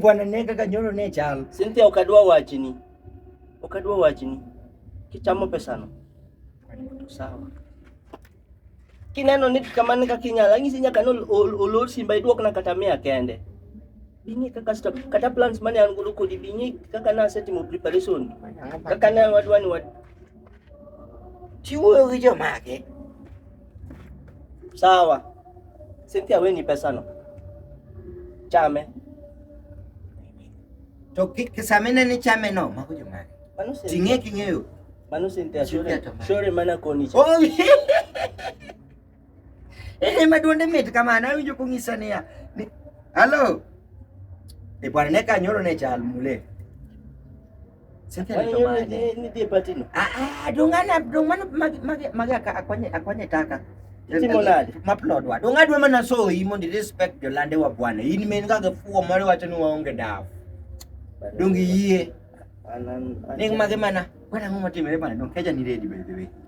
Bwana ne kaka nyoro ne chal. Cynthia ok adwa wachni. Ok adwa wachni. Kichamo pesano. To sawa. Kineno ni kamano kaka inyalo, anyisi nyaka ni ol- ol- olor simba iduokna kata mia kende. Bing'e kaka sto, kata plans mane an godo kodi bing'e kaka nasetimo preparation. Kaka ne wadwa ni wad Chiwuoyo gi jomage. Sawa. Cynthia weni pesano. Chame. To kisamene ni chame no, mago jomage. Ting'e king'eyo. Mano Cynthia, shore mana koni. Oh, Ene maduonde mit kamano awinjo kong'isa niya ni halo e bwana ne kanyoro ne chal mule dongana dongana magi akonye akonye taka maplodwa donga dwe mana soyi mondo respect jolande wa bwana in men kaka fuo moro wacho ni waonge dawa dongi yie ning mage mana bwana ng'o matimore bwana donkeja ni redi by the way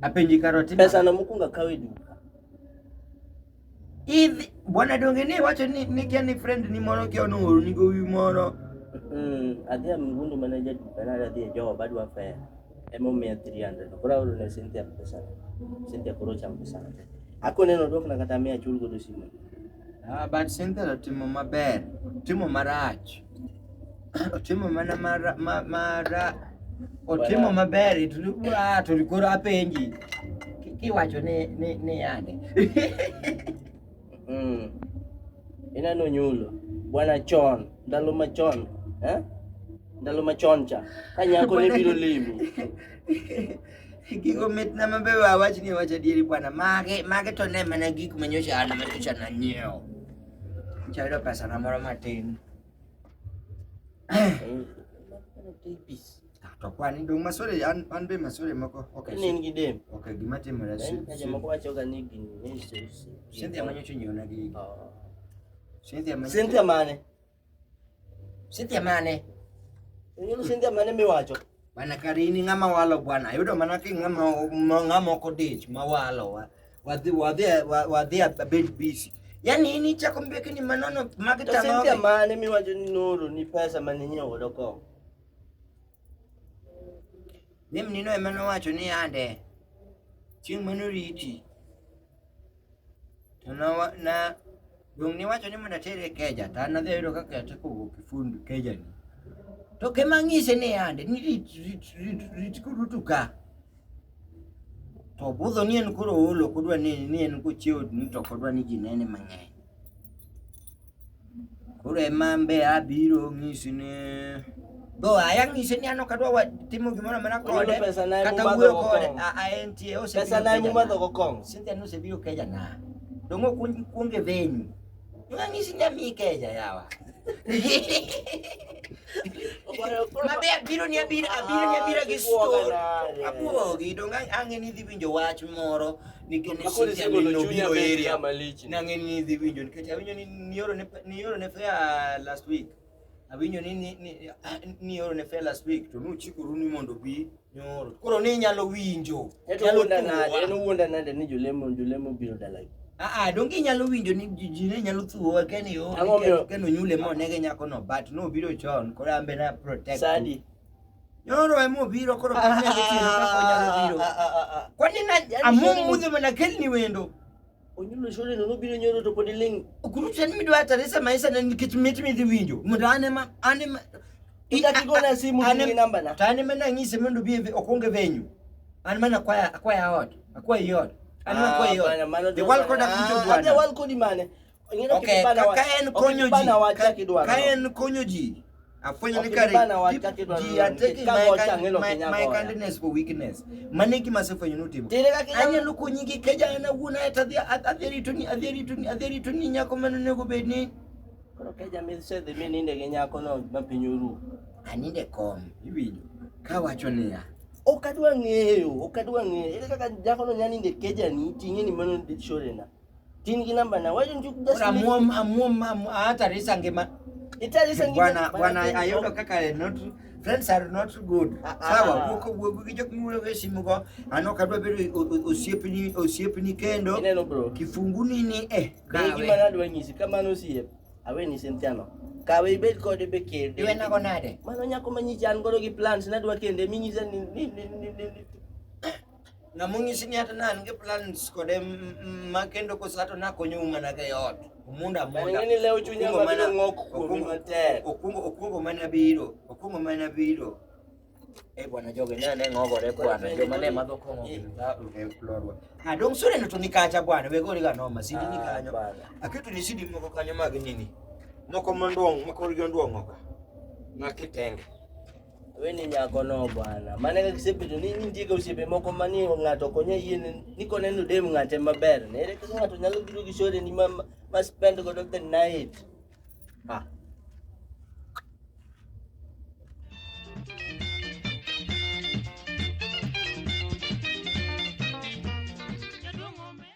apenji karoti pesa na mukunga kawe duka idhi bwana donge ni wacho ni ni kia ni friend ni mono kia no oru ni gowi mono mm adhi ya mgundu manager duka na adhi ya jowa badu wa fair emo mia 300 kura uru ne senti ya pesa senti ya kuro cha pesa ako neno dok na kata mia chulgo do simu Ah, but Cynthia otimo maber, otimo marach, otimo mana mara, ma, mara, otimo maber it look ah, to koro apenji Ki- kiwacho ni ni ni yande Mm. Ineno nyulo bwana chon ndalo machon eh? ndalo machon cha ka nyako ne biro limi Gigo mit na mabe wa wach ni wach adieri bwana. Mage mage to ne mana gik ma nyocha an ma nyocha na nyiewo. Nyocha ayudo pesa na moro matin. Ah, To kwani dong' masore an an be masore moko. Okay. Ka ne in gi dem. Okay, gima timore si. Ka jomoko wachoga ni gini ne iso- iso- Cynthia ma nyocha onyiewona gigi. Ah. Cynthia ma Cynthia mane? Cynthia mane? Ineno Cynthia mane miwacho? Mana kare in ng'ama walo bwana. Ayudo mana ki ng'ama ng'ama ok odich ma walo. wa- Wadhi wadhi wa- wadhi abed busy. Yaani in ichako mbeki ni manono To Cynthia magitang'o. mane miwacho ni noro ni pesa mane nyiewo godo kong'o? Mimi nino ema nowacho ni ande. Chieng' mano riti. To na na Dong' niwacho ni mondo atere keja, to an adhi ayudo kaka ateko wuok e fund kejani. To kema ng'ise ni yande, ni rit, rit, rit, rit kudutu ka. To budho ni en koro ool, ok odwa ni, ni en kochiewo ni to ok odwa ni ji nene mang'eny. Koro ema an be abiro ng'isi ni Go ayang ni senya no kadwa wa timo gimoro amana kode. Kata wuoyo kode a a en tie ose. Pesa na mu madho go kong. Senya no se biro keja na. Dongo kun kun ge venyu. Ngangi senya mi keja yawa. Mabe abiro ni abiro abiro ni abiro gi store. Abuogi dongo ange ni dhi winjo wach moro nikech senya mi no biro area. Nange ni dhi winjo nikech awinjo ni nioro ne nioro ne fair last week. Awinjo ni ni ni ah, ni oro ne fare last week to nuchikoru ni mondo bi nyoro. Koro ni inyalo winjo. Eto Inyalo wuonda nade? thuwa. En wuonda nade ni jolemo jolemo biro dalagi? Ah ah donge inyalo winjo ni ji ji ne nyalo thuwa keni yo. Ang'o omiyo- Keni onyule mo nege nyako no but no biro chon koro ambe na protect. Sadi. Nyoro emo biro koro kani nyalo timo kaka onyalo biro. Kwani na amum mudho mana kelni wendo. Onyulo shule no biro nyoro to podi ling. Kuru chen mi dwa tare sama isa na nikech mit mi dhi winjo. Mondo ane ma ane ma Ita kigona simu ni namba na. Tane ma nang'ise mondo bi okwonge venyu. An mana kwaya akwaya ot. Akwaya yot. An ma kwaya yot. The world code akuto bwana. The world code mane? Okay, ka en konyo ji. Ka en konyo ji. afwenyo ni kare ji ateki my kindness for weakness mane gima asefwenyo notimo anyalo konyi gi keja an awuon aeto adhi adhi ritoni adhi ritoni adhi ritoni nyako mane onego bed ni koro keja misedhi mi ninde gi nyako no ma piny oru aninde kom iwinjo kawacho niya ok adwa ng'eyo ok adwa ng'eyo ere kaka nyako no nya ninde kejani ting'e ni mano dichorena Tin gi namba na. Why don't you just Ora leave? muom amuom am- hata risa ngima It is this and give bwana it- bwana but- ayudo kaka eh, not friends are not good Ah, ah. sawa wuok wuok gi jok miwuoyo go e simu go an ok adwa bedo o- o- osiepni osiepni kendo Ineno bro. kifunguni ni eh Kawe gima kawe nadwa nyisi kamano osiep. Awe ni Cynthia no. Kawe ibed kode be kende. iwena go nade Mano nyako ma nyichan godo gi plans nadwa kende minyisa ni ni ni ni- ni- ni- ng'ama onyisi ni ata ne an gi plans kode ma kendo koso kata nakonyou mana ka eot omunda amunda Ng'e ni lew chunya Okungo mabiro mana- ng'ok kuomi okungo- matek. okungo okungo mana biro okungo mana biro Eh bwana joge ne ane ng'ogore bwana joma ne madho kong'o gi dha- eh, lorwa. Ah, dong sore no to ni kacha bwana wegori ga noma sidi ni Ah, kanyo bwana. aketo ni sidi moko kanyo mag nini moko manduong' makorgi onduong' oka makitenge Wewe ni nyako no bwana. Maana kaka kisepe to nini ndiye ka usepe moko mani ngato konye yini niko neno dem ngate maber. Ne ile kaka ngato nyalo biro gi shore ni ma ma spend go the night. Ah.